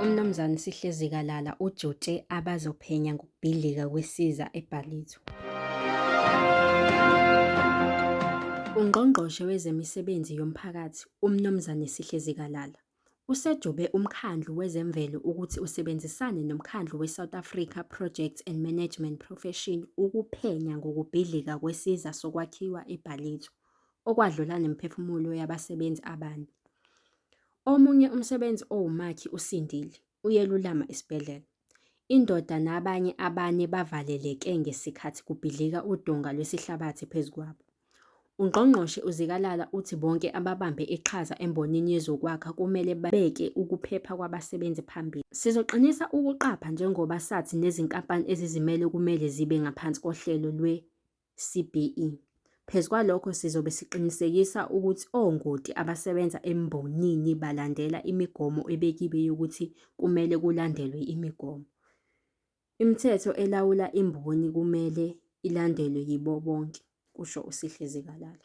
uMnumzane Sihlezi Kalala ujute abazophenya ngokubhidlika kwesiza eBhalizo. UNgqongqoshe wezeMisebenzi yoMphakathi uMnumzane Sihlezi Kalala Usejobe uMkhandlu wezeMvelo ukuthi usebenzisane noMkhandlu weSouth Africa Projects and Management Profession ukuphenya ngokubhidlika kwesiza sokwakhiwa eBhalithi, okwadlula nemiphefumulo yabasebenzi abane. Omunye umsebenzi owumakhi usindile, uyelulama esibhedlela. Indoda nabanye abane bavaleleke ngesikhathi kubhidlika udonga lwesihlabathi phezu kwabo. UNgqongqoshe uZikalala uthi bonke ababambe iqhaza embonini yezokwakha kumele babeke ukuphepha kwabasebenzi phambili. Sizoqinisa ukuqapha njengoba sathi nezinkampani ezizimele kumele zibe ngaphansi kohlelo lwe CBE. Phezu kwalokho sizobe siqinisekisa ukuthi ongoti abasebenza embonini balandela imigomo ebekiwe yokuthi kumele kulandelwe imigomo. Imithetho elawula imboni kumele ilandelwe yibo bonke, kusho uSihlezi Kalala.